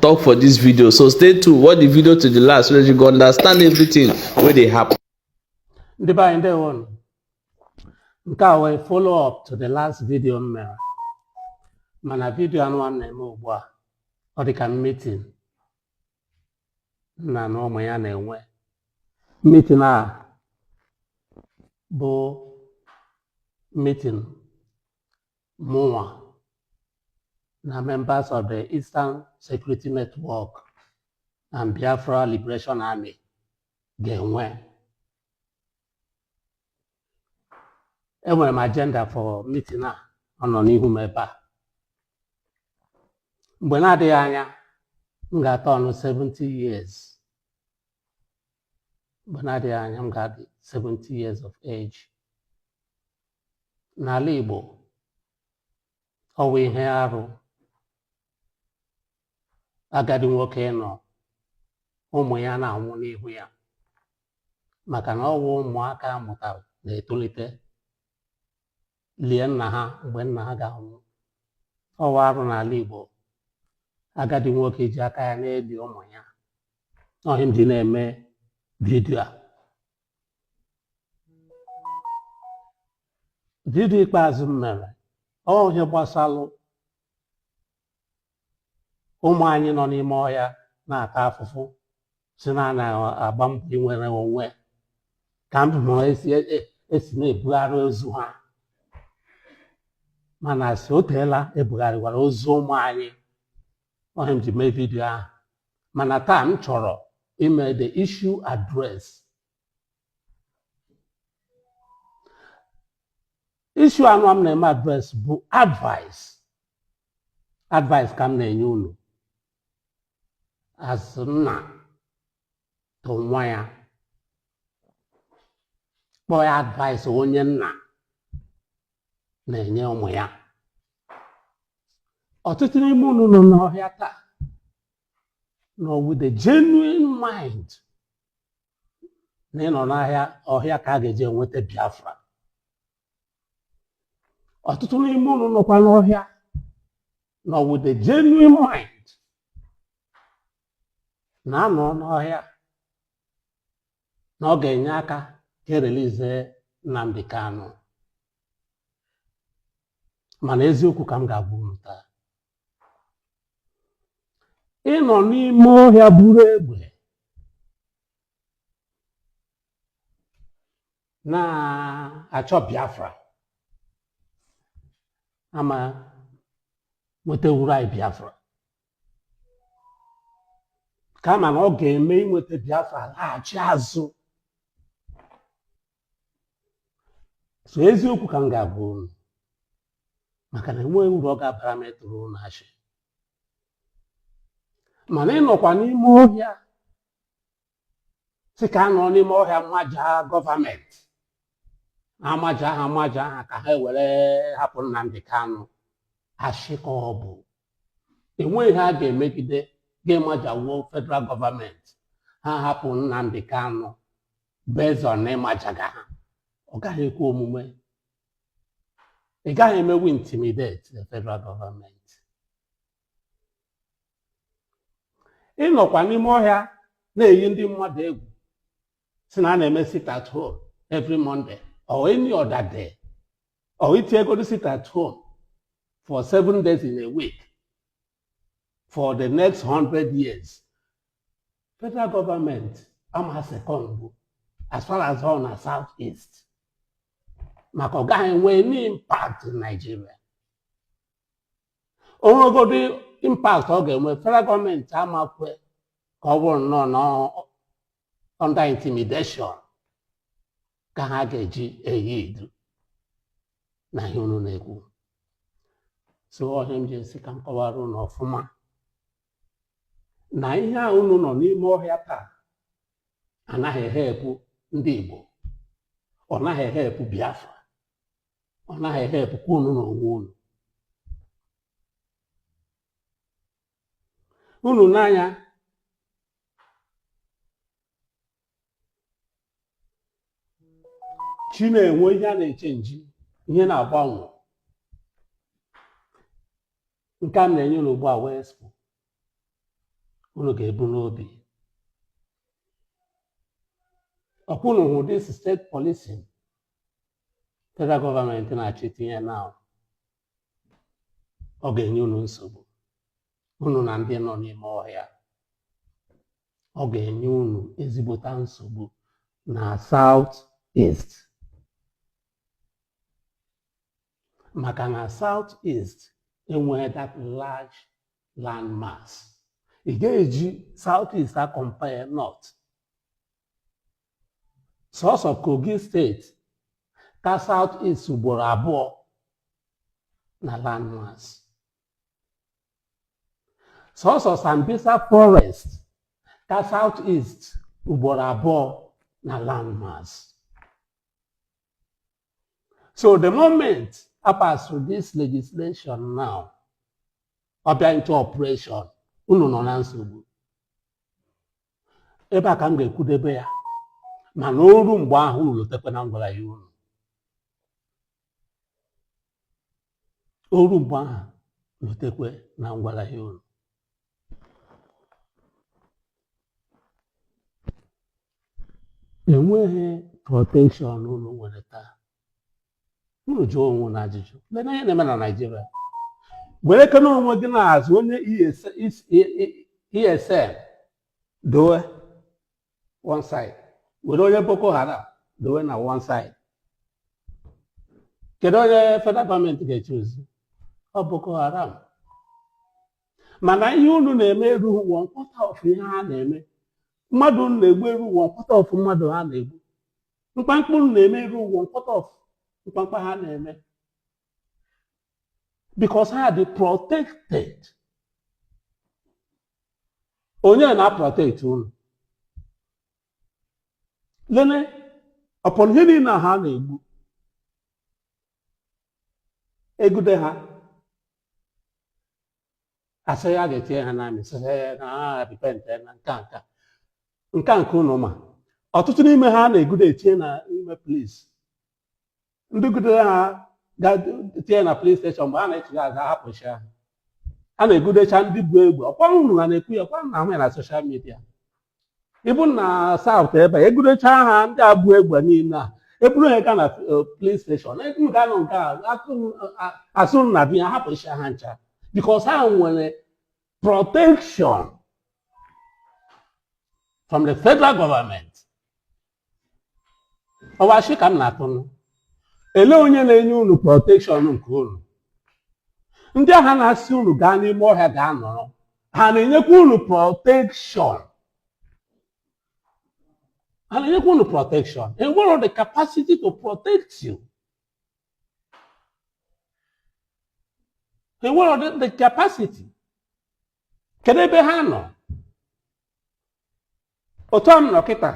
talk for this video so stay tuned watch the video to the last so that you go understand everything wey dey happen. ndị be anyị ndewo nụ. nke a wụ follow up to the last video m mere mana vidio anụwa m na-eme ugbu a ọ dị ka meeting nna na ụmụ ya na-enwe meeting a bụ meeting mụnwa na members of the Eastern Security Network and Biafra Liberation Army ga-enwe enwere m agenda for meeting a ọ nọ n'ihu m ebe a mgbe na-adịghị anya m ga-aturn 70 years mgbe na-adịghị anya m ga-adị 70 years of age n'ala Igbo ọ wụ ihe arụ agadi nwoke ịnọ ụmụ ya na-anwụ n'ihu ya maka na ọ wụ ụmụaka a mụtara na-etolite lie nna ha mgbe nna ha ga-anwụ ọ wụ arụ n'ala Igbo agadi nwoke ji aka ya na-eli ụmụ ya ọ ihe m ji na-eme vidio a vidio ikpeazụ m mere ọ wụ ihe gbasalụ ụmụ anyị nọ n'ime ọhịa na-ata afụfụ sị na a na-agba mbọ inwere onwe ka ndụ na esi e- e- esi na-ebugharị ozu ha mana si o teela ebugharịwara ozu ụmụ anyị ọ ihe m ji mee vidiyo ahụ mana taa m chọrọ ime the issue address issue anụwa m na-eme address bụ advice advice ka m na-enye unu as nna to nwa ya kpọọ ya advice onye nna na-enye ụmụ ya ọtụtụ n'ime unu nọ n'ọhịa taa nọ with a genuine mind na ịnọ n'ahịa ọhịa ka a ga-eji enweta Biafra ọtụtụ n'ime unu nọkwa n'ọhịa nọ with a genuine mind na a nọ n'ọhịa na ọ ga-enye aka ka e release Nnamdi Kanu mana eziokwu ka m ga-agwa unu taa ịnọ n'ime ọhịa buru egbe na-achọ Biafra ama nwetawuru anyị Biafra kama na ọ ga-eme inweta Biafra laghachi azụ so eziokwu ka m ga-agwa unu maka na enweghị uru ọ ga-abara m ịtụrụ unu asị mana ịnọkwa n'ime ọhịa sị ka a nọ n'ime ọhịa maja gọọmenti amaja ha amaja ha ka ha were hapụ Nnamdi Kanu asị ka ọ bụ enweghị ihe a ga-emegide ga-amajawu federal gọọmenti ha hapụ Nnamdi Kanu based on ịmajaga ha ọ gaghị ekwe omume ị gaghị emewu intimidate the federal government ịnọkwa n'ime ọhịa na-eyi ndị mmadụ egwu sị na a na-eme sit at home every Monday or any other day or i tiegodu sit at home for seven days in a week for the next hundred years federal government ama succumb as far as ọ na south east maka ọ gaghị enwe any impact in Nigeria o nwegodu impact ọ ga-enwe federal gọọmenti ama ekwe ka ọ bụrụ nnọọ na ọ- under intimidation ka ha ga-eji eyield na ihe unu na-ekwu so ọ ihe m ji asị ka m kọwara unu ọfụma na ihe a unu nọ n'ime ọhịa taa anaghị ehelpụ ndị Igbo ọ naghị ehelpụ Biafra ọ naghị ehelpụkwa unu na onwe unu unu n'anya chi na-enwe ihe a na-echenji ihe na-agbanwe nke m na-enye unu ugbu a wụ expo unu ga-ebu n'obi ọkwa unu hụ this state policing federal gọọmenti na-achọ itinye na ọ ga-enye unu nsogbu unu na ndị nọ n'ime ọhịa ọ ga-enye unu ezigbota nsogbu na South East maka na South East enweghị that large land mass ị ga-eji South East akọmpare North sọsọ Kogi steeti ka South East ugboro abụọ na land mass sọsọ Sambisa forest ka South East ugboro abụọ na landmass so the moment a pass through this legislation now ọ bịa into operation unu nọ na nsogbu ebe a ka m ga-ekwudebe ya mana o ru mgbe ahụ unu lotekwa na m gwara ya unu o ru mgbe ahụ lotekwe na m gwara ya unu enweghị protekshọn unu nwere taa unu jụọ onwe unu ajụjụ lee na ihe na-eme na naijiria werekene onwe gị na-asị onye ESN e, e, e, dowe one side were onye boko haram dowe na one side kedu onye federal gọọmenti ga-echuzi ọ boko haram mana ihe unu na-eme erughị one quarter of ihe ha na-eme mmadụ unu na-egbu erughị one quarter of mmadụ ha na-egbu mkpamkpa unu na-eme erughị one quarter of mkpamkpa ha na-eme because ha dị protected onye na-aprotect unu lene upon ihe niile a ha na-egbu e gude ha a sị ya ga-etinye ha n'army sị ha ya na ha repentena nka nka nka nke unu ma ọtụtụ n'ime ha a na-egude etinye na ime polis ndị e gudere ha ga-etinye na polis steshọn mgbe a na-echigha azụ a hapụchi ha a na-egudecha ndị bu egbe ọkwa unu ha na-ekwu ya ọkwa a na-ahụ ya na soshal midia even na saụt ebe e gudecha ha ndị a bu egbe niile a e buru ha gaa na polis steshọn unu ga-anọ nke a atụ- a- a sị unu na a bịa hapụchi ha ncha because ha nwere protection from the federal government ọ wụ ashị ka m na-atụ unu elee onye na-enye unu protekshọn nke unu ndị ahụ na-asị unu gaa n'ime ọhịa gaa nọrọ ha na-enyekwa unu protekshọn ha na-enyekwa unu protekshọn ha nwere the capacity to protect you enwere the, the capacity kedu ebe ha nọ otu a m nọ kịta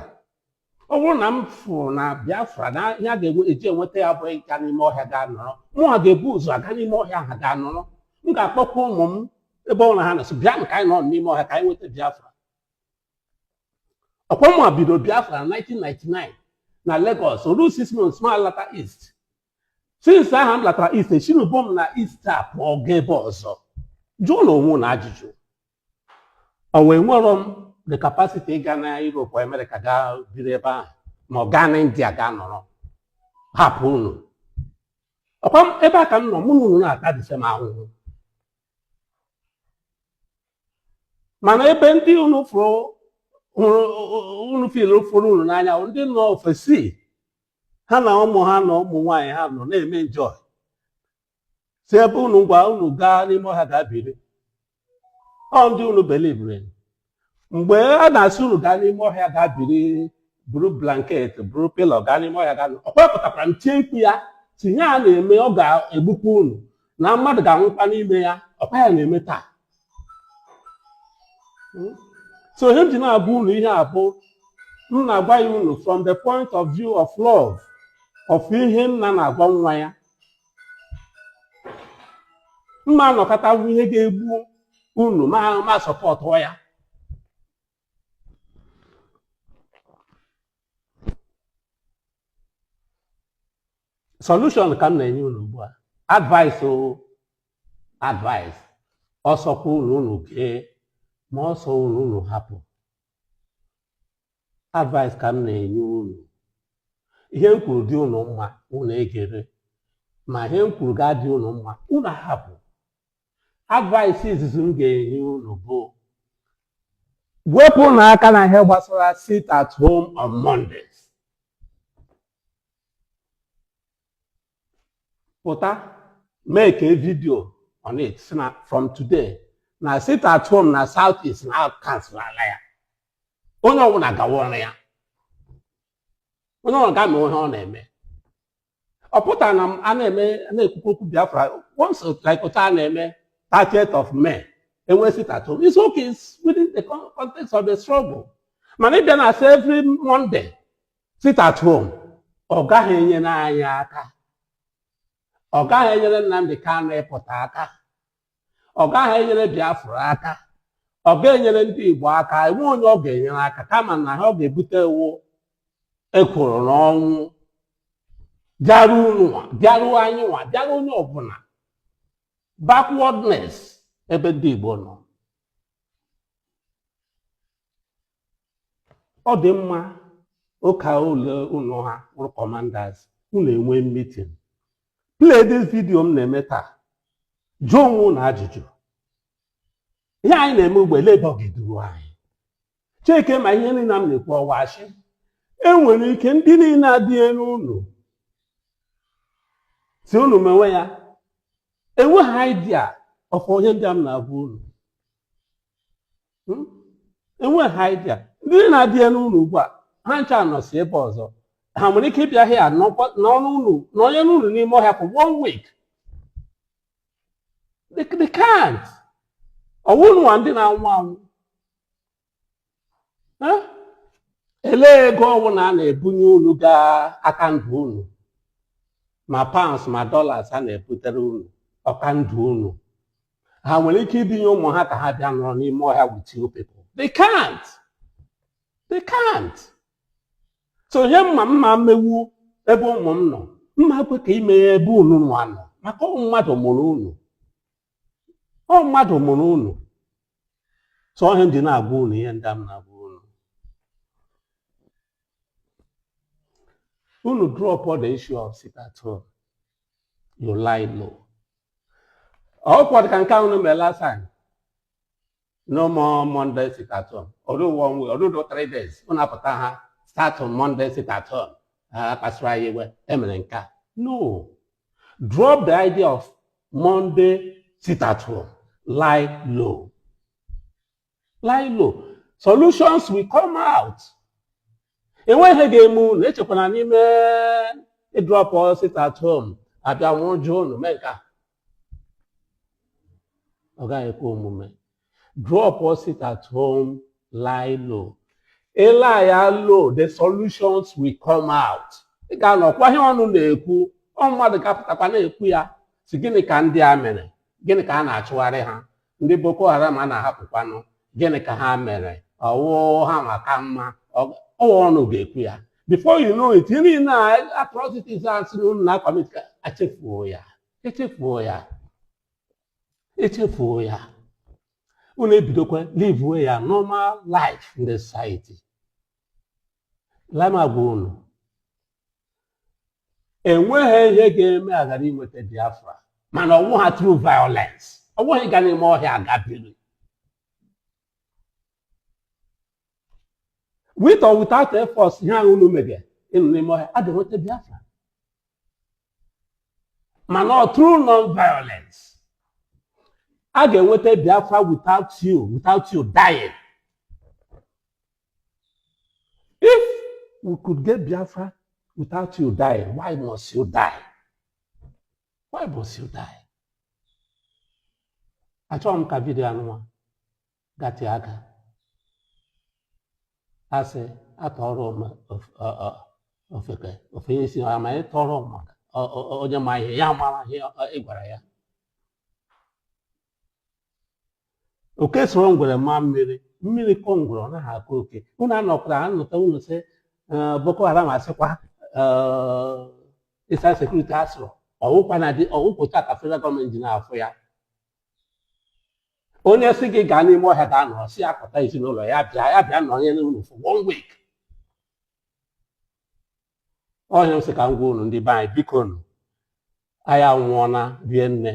ọ bụrụ na m fụrụ na biafra na ihe a ga-enwe eji enweta ya bụ ịga n'ime ọhịa gaa nọrọ mụnwa ga-ebu ụzọ aga n'ime ọhịa ahụ gaa nọrọ m ga-akpọkwa ụmụ m ebe ọbụla ha nọ asị bịa ka anyị nọ n'ime ọhịa ka anyị nweta biafra ọkwa mụnwa bido biafra na 1999 na Lagos o ru 6 months m alata east since ahụ m latara east esinubo m na east a pụọ gaa ebe ọzọ jụọnụ onwe unu ajụjụ ọkwa enwere m the capacity ịga na Europe or America gaa biri ebe ahụ ma ọ gaa na India gaa nọrọ hapụ unu ọkwa m- ebe a ka m nọ mụ na unu na-ata the same ahụhụ mana ebe ndị unu fụrụ hụrụ unu feel fụrụ unu n'anya bụ ndị nọ ofesi ha na ụmụ ha na ụmụ nwaanyị ha nọ na-eme enjoy si ebe ha nọ na-agwa unu gaa n'ime ọhịa gaa biri ọ ndị unu believere mgbe a na-asị unu gaa n'ime ọhịa gaa biri buru blanket buru pilo gaa n'ime ọhịa gaa ọkwa apụtakwara m tie mkpu ya sị ihe a a na-eme ọ ga-egbukwa unu na mmadụ ga-anwụkwa n'ime ya ọkwa ya na-eme taa Hmm? so ihe m ji na-agwa unu ihe a bụ m na-agwa ya unu from the point of view of love of ihe nna na-agwa nwa ya m ma anọkata fụ ihe ga-egbu unu ma m supportụ ya solution ka m na-enye unu ugbu a advice o advice ọ sọkwa unu unu gee ma ọ sọ unu unu hapụ advice ka m na-enye unu ihe m kwuru dị unu mma unu egere ma ihe m kwuru ghara ịdị unu mma unu ahapụ advice izizi m ga-enye unu bụ wepụnụ aka na ihe gbasara sit at home on Mondays pụta make a video on it sị na from today na sit at home na south east na a cancelala ya onye ọbụla gawa ọrụ ya onye ọbụla gaa mee ihe ọ na-eme ọ pụtara na a na-eme na-ekwukwu okwu biafra once like otu a na-eme 30th of May e nwee sit at home it's okay it's within the context of the struggle mana ịbịa na-asị every Monday sit at home ọ gaghị enyere anyị aka ọ gaghị enyere Nnamdi Kanu ịpụta aka ọ gaghị enyere Biafra aka ọ gaghị enyere ndị Igbo aka enwe onye ọ ga-enyere aka kama na ihe ọ ga-ebute wụ ekworo na ọnwụ bịaruo ununwa bịaruo anyị nwa bịaruo onye ọbụla backwardness ebe ndị Igbo nọ ọ dị mma ọ ka unu unu ha wụrụ commanders unu enwee meeting play this video m na-eme taa jụọ onwe unu ajụjụ ihe anyị na-eme ugbu a elee ebe ọ ga-eduru anyị checkie ma ihe niile m na-ekwu ọ wụ ashị e nwere ike ndị niile adị elu unu sị unu mewe ya enweghị idea of ihe ndị a m na-agwa unu Hmm? enweghị ha idea ndị na-adị elu unu ugbu a ha ncha nọsi ebe ọzọ ha nwere ike ịbịa here nọnụ nọnyere unu n'ime ọhịa for one week they, they can't ọ wụ unu nwa ndị na-anwụ anwụ Eh? elee ego ọbụla a na-ebunye unu ga-aka ndụ unu ma pounds ma dollars a na-ebutere unu ọ ka ndụ unu ha nwere ike ibinye ụmụ ha ka ha bịa nọrọ n'ime ọhịa with you people they can't they can't so ihe m ma m ma mewu ebe ụmụ m nọ m ma kwe ka i mee ya ebe unu nwa nọ maka ọ mmadụ mụrụ unu ọ mmadụ mụrụ unu so ihe m ji na-agwa unu ihe ndị a m na-agwa unu dropụọ the issue of sit at home you lie low ọ kwọ dị ka nke unu mere last time no more monday sit at home ọ dụ one week ọ dụ three days unu apụta astartụọ monday sit at home a kpasara anyị iwe e mere nke a no drop the idea of monday sit at home lie low lie low solutions will come out enweghị ihe ga-eme unu echekwana na ime ịdropụ sit at home a bịa nwụjụ unu mee nke a ọ gaghị ekwe omume dropụọ sit at home lie low ị lie ya low the solutions will come out ị ga-anụkwa ihe ọnụ na-ekwu ụmụ mmadụ ga-apụtakwa na-ekwu ya sị gịnị ka ndị a mere gịnị ka a na-achụgharị ha ndị boko haram a na-ahapụkwanụ gịnị ka ha mere ọ wụ ha ma ka mma ọ- ọ wụ ọnụ ga-ekwu ya before you know it ihe niile a atrocities a sịrị unu na-acommit ka echefuo ya echefuo ya echefuo ya unu ebidokwa live ya normal life in the society na m agwa unu enweghị ihe ga-eme aghara inweta Biafra mana ọ wụghị through violence ọ wụghị ịga n'ime ọhịa aga biri with or without efforts ihe ahụ unu mege ịnọ n'ime ọhịa a ga-enweta Biafra mana ọ through non violence a ga-enweta Biafra without you without you dying If we could get Biafra without you dying, why must you die? Why must you die? Achọghị m ka video anụnwa gatịa aka. A sị a tụọrọ m of- ọ- ọ- ofeke o fenye isi ọ ma ị tụọrọ m ọ- ọ- onye ma ihe ya mara ihe ọ- ị gwara ya oke soro ngwere maa mmiri mmiri kọọ ngwere ọ naghị akọ oke unu anọkwara anụta unu sị eh, Boko Haram a sịkwa Eastern Security asụrụ ọ wụkwa na dị ọ wụkwa otu a ka federal gọọmenti ji na-afụ ya onye sị gị gaa n'ime ọhịa gaa nọrọ sị ya kpọta ezinụlọ ya bịa ya bịa nọrọ nye n'ụlọ for one week ọhịa m sị ka m gwa unu ndị be anyị bikonụ anyị anwụọla rie nne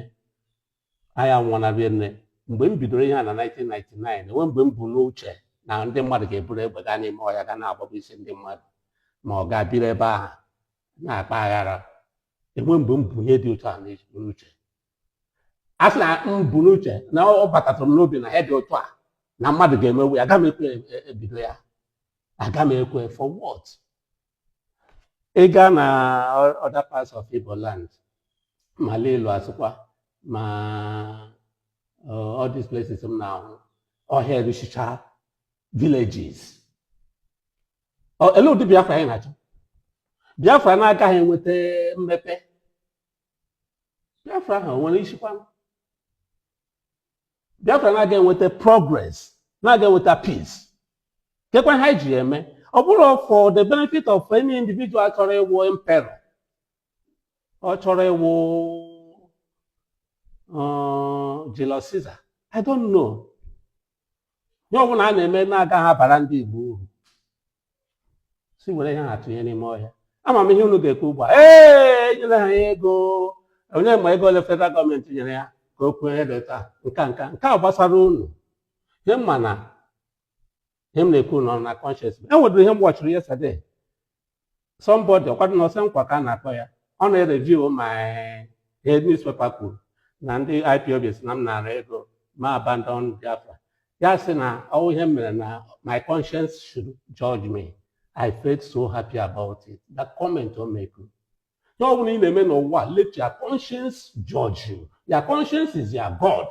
anyị anwụọla rie nne mgbe m bidoro ihe a na 1999 enwe mgbe m bu n'uche na ndị mmadụ ga-eburu egbe gaa n'ime ọhịa ga na-agbagbusi ndị mmadụ ma ọ gaa biri ebe ahụ na-akpa aghara enwe mgbe m bu ihe dị otu a n'uche a sị na m bu n'uche na ọ batatụrụ m n'obi na ihe dị otu a na mmadụ ga-emewu ya aga m ekwe e, e, e bido ya aga m ekwe for what ị gaa na other parts of Igbo land ma Lilu a sịkwa ma uh, all these places m na-ahụ ọhịa eruchicha villages elee ụdị Biafra anyị na-achọ Biafra na-agaghị enweta mmepe Biafra ahụ nwere isikwa Biafra na-aga enweta progress na-aga enweta peace kekwa ihe e ji eme ọ bụrụ for the benefit of any individual chọrọ ịwụ emperor ọ chọrọ ịwụ uh, Julius Caesar I don't know ihe ọbụla a na-eme na-agaghị abara ndị Igbo uru sị were ihe ahụ tụnye n'ime ọhịa ama m ihe unu ga-ekwu ugbu a ee enyere ha ya ego onye ma ego ole federal gọọmenti nyere ya ka o kwuo ihe dị otu a nka nka nke ahụ gbasara unu ihe m ma na ihe m na-ekwu nọ na conscience m e nwedịrị ihe m watchiri yesterday somebody ọkwadụ na ọsọ nkwa ka a na-akpọ ya ọ na-ereview ma ihe newspaper kwuru na ndị IPOB sị na m nara ego ma abandon Biafra ya sị na ọ wụ ihe m mere na my conscience should judge me I felt so happy about it that comment o make ihe ọ bụla ị na-eme n'ụwa let your conscience judge you your conscience is your God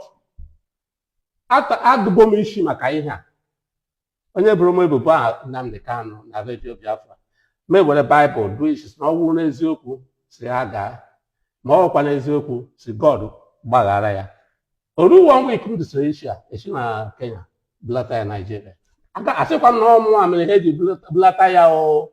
adụgo m isi maka ihe a onye boro m ebubo a Nnamdi Kanu na redio Biafra m ewere baịbụl dụọ isi sị na ọ wụrụ n'eziokwu sị ya gaa ma ọ wụkwa n'eziokwu sị God gbaghara ya o ruo one week m dụsịrị isi a e si na Kenya bulata ya Naijiria asịkwa m na ọ mụa mere ihe e ji bulata ya o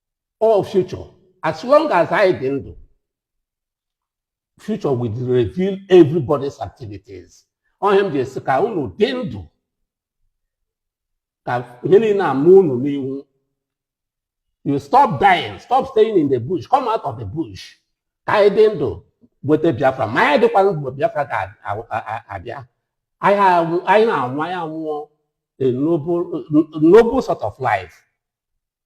all future as long as anyị dị ndụ future will reveal everybody's activities ọ ihe m ji asị ka unu dị ndụ ka ihe niile ama unu n'ihu you stop dying stop staying in the bush come out of the bush ka anyị dị ndụ nweta biafra ma anyị dịkwa ndụ biafra ga-abịa anyị na-anwụ anyị anwụọ a noble sort of life